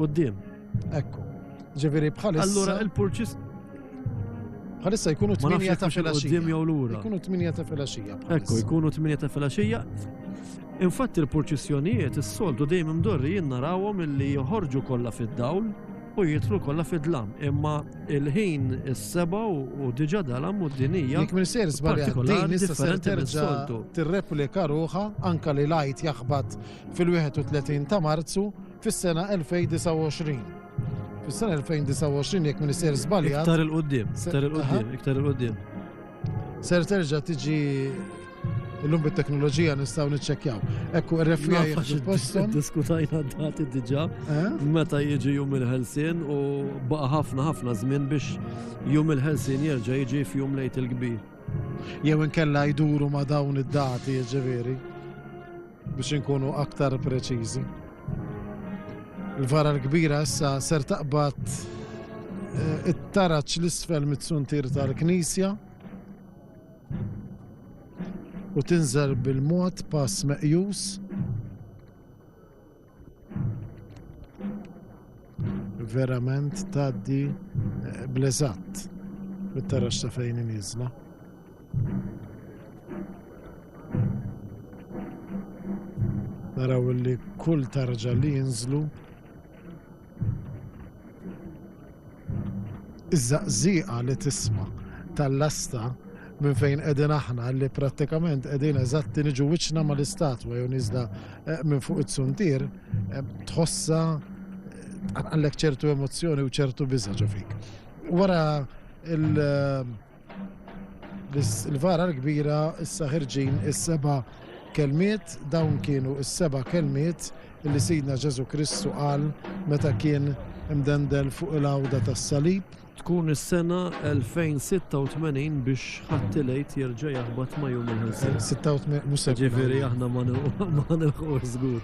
Qudiem. Ekku. Ġifieri bħalissa. Allura il-purċis Bħalissa jkunu 8 ta' filgħaxija. jew lura. Jkunu 8 ta' filgħaxija. Ekku, jkunu 8 ta' filgħaxija. Infatti l-purċissjonijiet is-soltu dejjem imdorri jien narawhom illi joħorġu kollha fid-dawl u jitlu kollha fid-dlam. Imma il-ħin is-seba u diġà dalam u d-dinija. Jekk minn ser żbaljat issa ser terġa' tirreplika ruħha anka li lajt jaħbat fil-31 ta' Marzu fis-sena 2029. Fis-sena 2029 jekk minister żbaljat. Iktar il-qudiem, iktar il-qudiem, iktar il-qudiem. Ser terġa' tiġi illum bit-teknoloġija nistgħu niċċekkjaw. Ekku r-refija jifpostom. Diskutajna dati diġà eh? meta jiġi jum il-ħelsien u baqa' ħafna ħafna żmien biex jum il-ħelsien jerġa' jiġi f'jum lejt il-kbir. Jew inkella jduru ma' dawn id-dati, ġifieri. Biex inkunu aktar preċiżi. Il-vara l-kbira issa ser taqbad eh, it-taraċ l-isfel mit-suntir tal-knisja u tinżel bil-mod pass meqjus verament taddi eh, blezat mit-tarax sa fejn inizla. Naraw li kull tarġa li jinżlu Iż-żaqżieqa li tisma' tal-lasta minn fejn qegħdin aħna li prattikament qegħdin eżatti niġu wiċċna mal-istatwa jew niżla minn fuq it-suntier tħossha tqanqallek ċertu emozzjoni u ċertu biża' ġo fik. Wara il- Biss il-vara l-kbira issa ħirġin is-seba' kelmiet, dawn kienu is-seba' kelmiet li Sidna Ġesu Kristu qal meta kien imdendel fuq il-għawda tas-salib. Tkun is-sena 2086 biex ħattilejt jerġa' jaħbat ma' jum il-ħelsin. 86 mhux se ġifieri aħna ma nilħu żgur.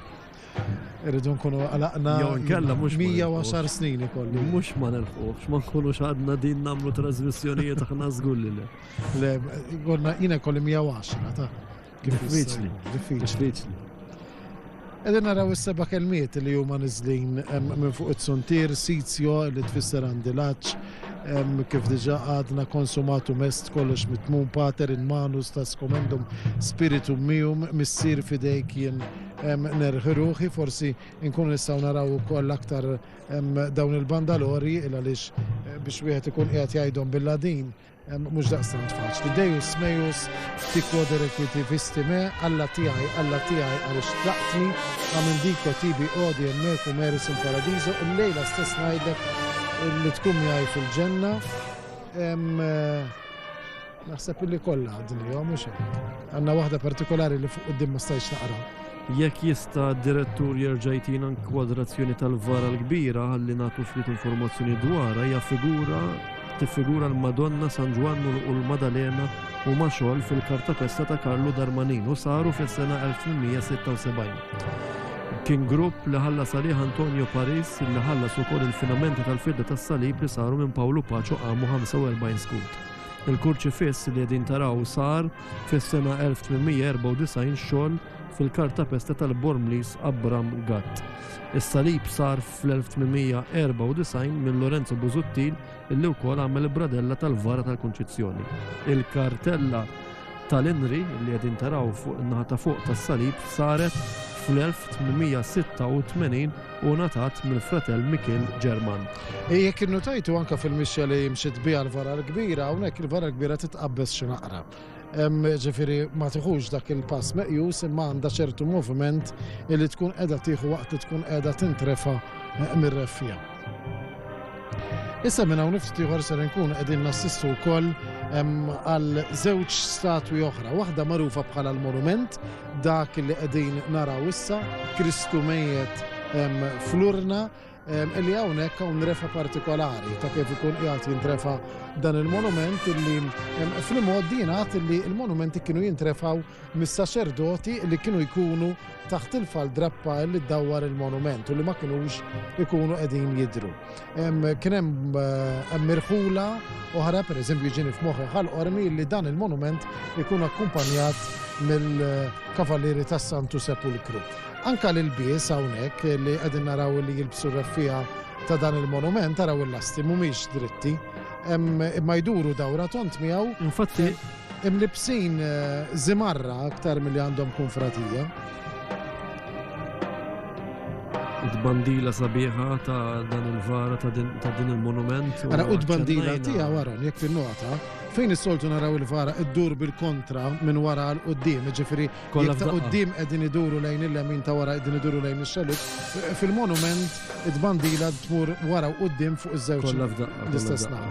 Irridu nkunu għalaqna. Jew nkella mhux. 110 snin ikollu. Mhux ma nelħuħx, ma nkunux għadna din nagħmlu trasmissjonijiet aħna żgur li le. Le, għonna jiena kolli 110 ta' diffiċli. Diffiċli. Edin naraw is-seba kelmiet li huma niżlin minn fuq it-suntir, sitio li tfisser għandi laċ, kif diġa għadna konsumatu mest kollox mitmun pater in manus ta' skomendum spiritu mium missir fidejk jien Nerħi ruħi forsi nkunu nistgħu naraw ukoll aktar dawn il-bandalori il għaliex biex wieħed ikun qiegħed jgħidhom bil-Ladin mhux daqstant faċli. Dejus mejus tikwo derekwiti vistime alla tiegħi alla tiegħi għaliex tlaqtni għamil diko tibi odi emmeku meris il paradiżu il-lejla stess ngħidlek li tkun miegħi fil-ġenna. Naħseb illi kollha għadnihom mhux hekk. Għandna waħda partikolari li fuq quddiem ma stajtx naqra. Jekk jista' d-direttur jerġa' jtina kwadrazzjoni tal-vara l-kbira ħalli nagħtu ftit informazzjoni dwarha hija figura tiffigura l-Madonna San Ġwann u l-Madalena u ma' xogħol fil-kartapesta ta' Karlu Darmanin u saru fis-sena 1876. Kien grupp li ħalla salih Antonio Paris li ħallas ukoll il-finamenti tal-fidda tas-salib li saru minn Pawlu Paċu qamu 45 skut. Il-kurċifiss li qegħdin taraw sar fis-sena 1894 xogħol fil-kartapesta tal-Bormliż Abram Gatt. Is-salib sar fl-1894 minn Lorenzo Busuttil illi wkoll għamel il-bradella tal-vara tal-Kunċizzjoni. Il-kartella tal-Inri li qegħdin taraw fuq in-naħa ta' fuq tas-salib saret fl-1886 u ngħatat mill-fratell Mikiel German. E jekk innutajtu anke fil-mixja li mxiet biha l-vara l-kbira, hawnhekk il-vara l-kbira titqabbeż xi naqra. Ġifieri ma tiħux dak il-pass meqjus imma għandha ċertu moviment li tkun qiegħda tieħu waqt li tkun qiegħda tintrefa' mir-reffija. Issa minn hawn ftit ieħor ser nkun qegħdin nassistu wkoll għal żewġ statwi oħra, waħda magħrufa bħala l-monument, dak li qegħdin naraw issa, Kristu mejjet flurna, li hawnhekk hawn refa partikolari ta' kif ikun qiegħed jintrefa dan il-monument illi fl-mod din għad illi il-monumenti kienu jintrefaw mis-saċerdoti li kienu jkunu taħt il-faldrappa li ddawwar il-monument u li ma kinux ikunu qegħdin jidhru. Kien hemm eh, mirħula oħra, pereżempju ġieni f'moħħi ħal-qormi li dan il-monument ikun akkumpanjat mill-Kavalieri tas-Santu Sepulkru. Anka l-bies hawnhekk li qegħdin naraw li jilbsu r-raffija ta' dan il-monument taraw il-lasti mhumiex dritti imma jduru dawra tont miegħu. Infatti, Imlibbsin żimarra aktar milli għandhom kunfratija. Tbandila sabiħa ta' dan il-vara ta' din il-monument. Ara u tbandila tija wara jekk tinnota fejn is-soltu naraw il-vara iddur bil-kontra minn wara l qoddim ġifiri kollha ta' qoddim qegħdin iduru lejn il-lemin ta' wara qegħdin iduru lejn ix-xalut. Fil-monument it-bandila tmur wara u qoddim fuq iż-żewġ l-istess naħa.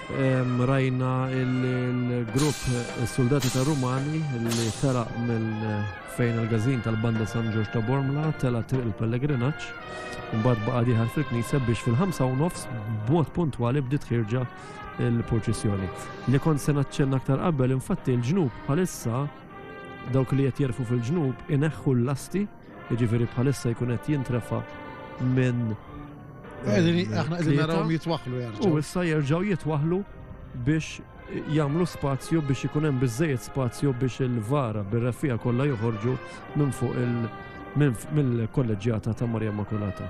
Rajna il-grupp Suldati ta' Rumani li telaq minn fejn il-gazin tal-banda San Ġorġ ta' Bormla tela' triq il-pellegrinaġġ mbagħad baqa' diħal fil-knisja biex fil-ħamsa u nofs b'mod puntwali bdiet ħirġa il-purċissjoni. Li kont se naċċenna aktar qabel, infatti l-ġnub bħalissa dawk li qed jerfu fil-ġnub ineħħu l-lasti Jiġifieri bħalissa jkun qed jintrefa' minn Aħna qegħdin narawhom jitwaħħlu jerġgħu. U issa jerġgħu jitwaħħlu biex jagħmlu spazju biex ikun hemm biżejjed spazju biex il-vara bir-refija kollha joħorġu minn fuq il- mill-kolleġġjata ta' Marja Makulata.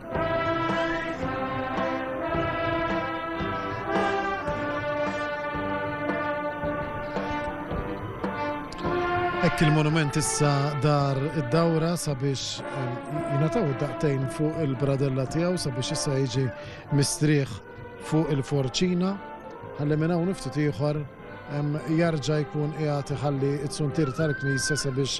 Hekk il-monument issa dar id-dawra sabiex eh, jingħataw id-daqtejn fuq il-bradella tiegħu sabiex issa jiġi mistrieħ fuq il-forċina ħalli minn hawn ftit ieħor jarġa' jkun qiegħed iħalli t-suntir tal-knisja sabiex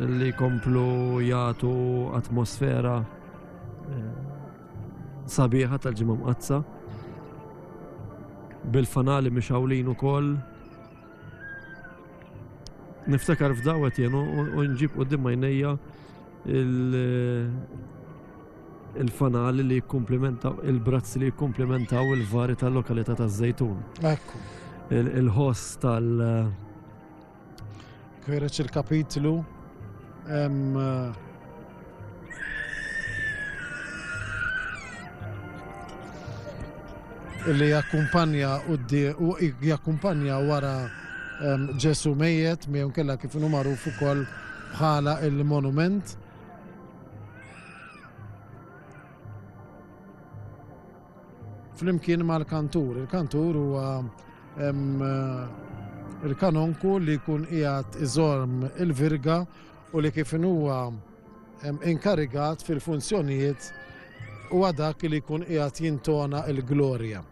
li jkomplu jagħtu atmosfera eh, sabiħa tal-ġimgħa mqazza bil-fanali mixawlin ukoll niftakar f'dawet jen u nġib u dimma jnejja il-fanali li jikkomplementaw, il-brazz li jikkomplementaw il-vari tal-lokalità taż-żejtun. Ekku. Il-ħoss tal- Kwereċ il-kapitlu hemm eh, li jakkumpanja u jakkumpanja wara Ġesu mejet, miegħu kella kif nu magħruf ukoll bħala il-monument. Flimkien mal-kantur, il-kantur huwa il-kanonku li jkun qiegħed iżorm il-virga u li kif huwa inkarigat fil-funzjonijiet huwa dak li jkun qiegħed jintona l-glorja.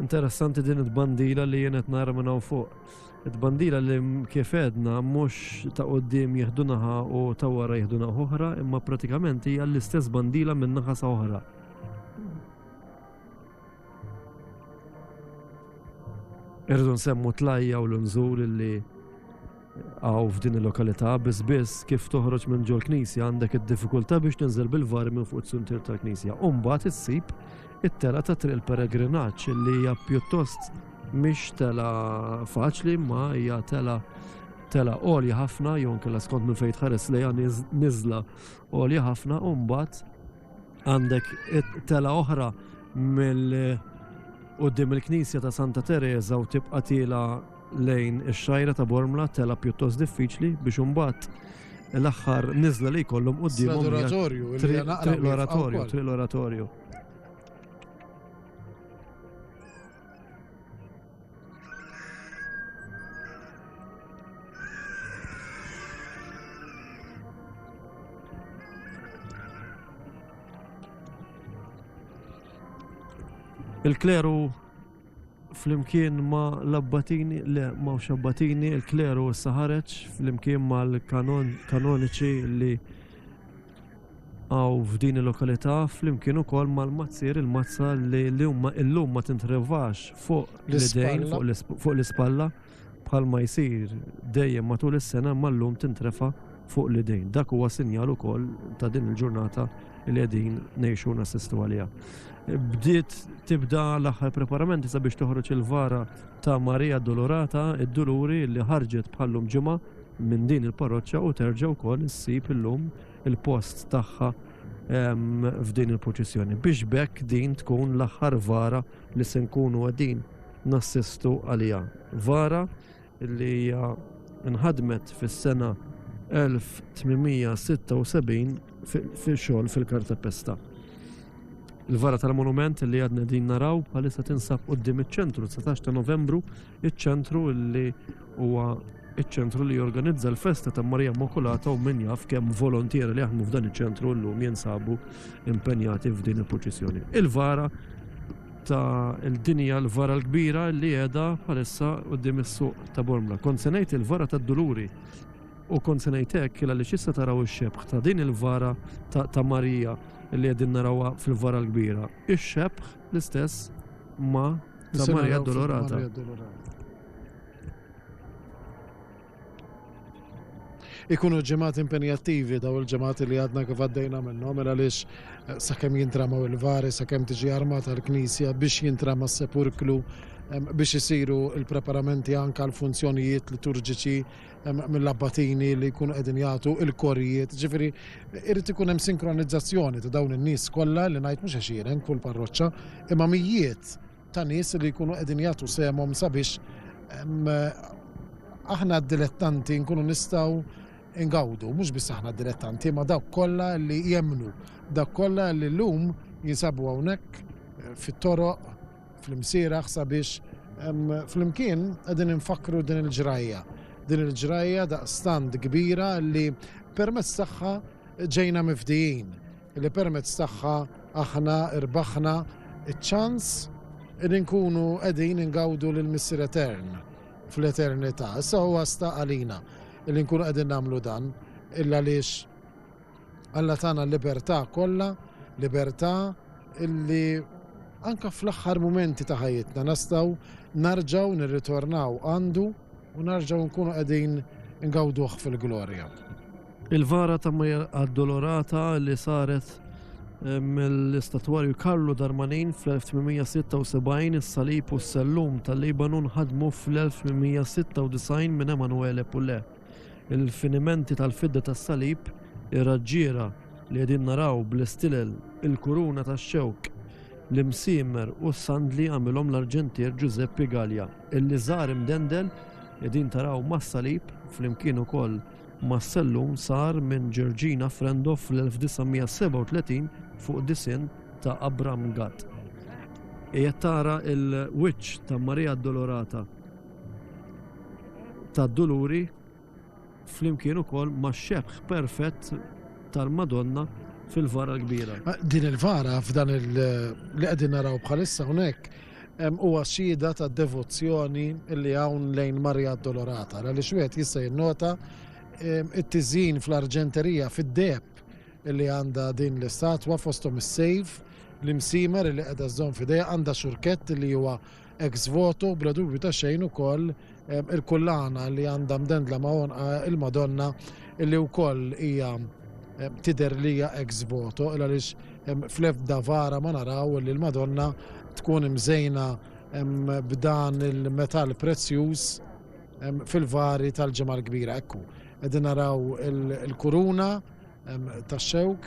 Interessanti din it-bandila li jien qed nara minn hawn fuq. It-bandila li kif edna mhux ta' qudiem jieħdu naħa u ta' wara jieħdu naħa oħra, imma pratikament hija l-istess bandila minn naħa sa oħra. Irridu nsemmu tlajja u l-nżul li Hawn f'din il-lokalità biss biss kif toħroġ minn ġol knisja għandek id-diffikultà biex tinżel bil-var minn fuq is-suntier tal-knisja. U mbagħad issib it-tela ta' triq il-peregrinaġġ li hija pjuttost mhix tela faċli ma hija tela tela għolja ħafna jew kella skont minn fejn tħares lejha niżla għolja ħafna u mbagħad għandek tela oħra mill qudiem il-Knisja ta' Santa Teresa u tibqa' tiela lejn ix-xajra ta' Bormla tela' pjuttost diffiċli biex imbagħad l-aħħar niżla li jkollhom qudiemhom l-oratorju, l-oratorju, triq l-oratorju. Il-kleru flimkien ma' l-abbatini, le m'hawnx abbatini, il-kleru issa ħareġ flimkien mal-kanoniċi li għaw f'din il-lokalità flimkien ukoll mal-mazzir il-mazza li l-lum ma tintrevax fuq l-idejn fuq l-ispalla. bħalma jsir dejjem matul is-sena imma llum tintrefa' fuq l-idejn. Dak huwa sinjal ukoll ta' din il-ġurnata li qegħdin ngħixu u nassistu għaliha. Bdiet tibda l-aħħar preparamenti sabiex toħroġ il-vara ta' Marija Addolorata id-Duluri li ħarġet bħallum ġimgħa minn din il-parroċċa u terġa' wkoll issib illum il-post tagħha f'din il-purċissjoni biex b'hekk din tkun l-aħħar vara li se nkunu qegħdin nassistu għaliha. Vara li hija nħadmet fis-sena 1876 fi xogħol fil-Kartapesta. Il-vara tal-monument li għadna din naraw bħalissa tinsab qoddim iċ-ċentru 19 ta' Novembru, iċ-ċentru li Huwa ċ-ċentru li jorganizza l-festa ta' Marija Immakulata u min jaf kemm volontiera li jaħdmu f'dan iċ-ċentru llum jinsabu impenjati f'din il-proċessjoni. Il-vara ta' l-dinja l-vara l-kbira li qiegħda bħalissa quddiem is-suq ta' Bormla. Kont se ngħid il-vara tad-Duluri u kont se ngħid hekk illa li x'issa taraw ix-xebħ ta' din il-vara ta' Marija li qegħdin narawha fil-vara l-kbira. Ix-xebħ l-istess ma' ta' Marija Dolorata. ikunu ġemat impenjattivi daw il-ġemat li għadna kif għaddejna minnhom mela għaliex eh, sakemm jintramaw il-vari, sakemm tiġi armata l-Knisja biex jintrama s-sepurklu biex isiru il-preparamenti anka l-funzjonijiet liturġiċi mill-abbatini li jkunu qegħdin jagħtu il-korijiet. Ġifieri irid ikun hemm sinkronizzazzjoni ta' dawn in-nies kollha li ngħid mhux għaxieren kull parroċċa imma mijiet ta' nies li jkunu qegħdin jagħtu sehemhom sabiex aħna d-dilettanti nkunu nistgħu ingawdu, mhux biss aħna d-dilettanti, ma dawk kollha li jemmnu, dawk kollha li llum jinsabu hawnhekk fit-toroq, fl-imsieraħ sabiex flimkien qegħdin infakru din il-ġrajja. Din il-ġrajja daqstant kbira li permezz tagħha ġejna mifdijin. li permezz tagħha aħna rbaħna ċ-ċans li nkunu qegħdin ingawdu lill-Missier Etern fl-eternità. Issa huwa sta għalina li nkunu qegħdin nagħmlu dan illa għaliex Alla tagħna l-libertà kollha, libertà illi anka fl-aħħar mumenti ta' ħajjitna nistgħu narġaw nirritornaw għandu U nerġgħu nkunu qegħdin ingawduh fil-glorja. Il-vara ta' Mary Addolorata li saret eh, mill-istatwarju Karlu Darmanin fl-1876 is-salib u s-sellum tal-Libanu nħadmu fl-1896 minn Emanuele Pulle. Il-finimenti tal-fidda tas-salib, ir-raġġiera li qegħdin naraw bl-istilel, il-kuruna tax-xewk, l-imsiemer u s-sandli għamilhom l-arġentier Ġużeppi Galja. Il-liżar imdendel qegħdin taraw mas-salib flimkien ukoll mas-sellum sar minn Ġerġina Frendo fl-1937 fuq disinn ta' Abram Gatt. Qiegħed tara l-wiċċ ta' Marija Addolorata tad-Duluri flimkien ukoll max-xebh perfett tal-Madonna fil-vara l-kbira. Din il-vara f'dan li qegħdin naraw bħalissa hawnhekk huwa xhieda ta' devozzjoni li hawn lejn Marija Addolorata, għaliex wieħed jista' jinnota it-tiżin fl-arġenterija fid-deb li għandha din l-istatwa fosthom is-sejf, l-imsimer li qiegħda żżomm f'idejha għandha xurkett li huwa Ex voto, bla dubju ta' xejn ukoll il-kullana li għandha mdendla ma' għonqha il-Madonna li wkoll hija tidher li hija ex voto il għaliex fl-ebda vara ma naraw li l-Madonna tkun imżejna b'dan il-metall prezzjuż fil-vari tal-Ġimgħa l-Kbira. Ekku, qegħdin naraw il-kuruna tax-xewk.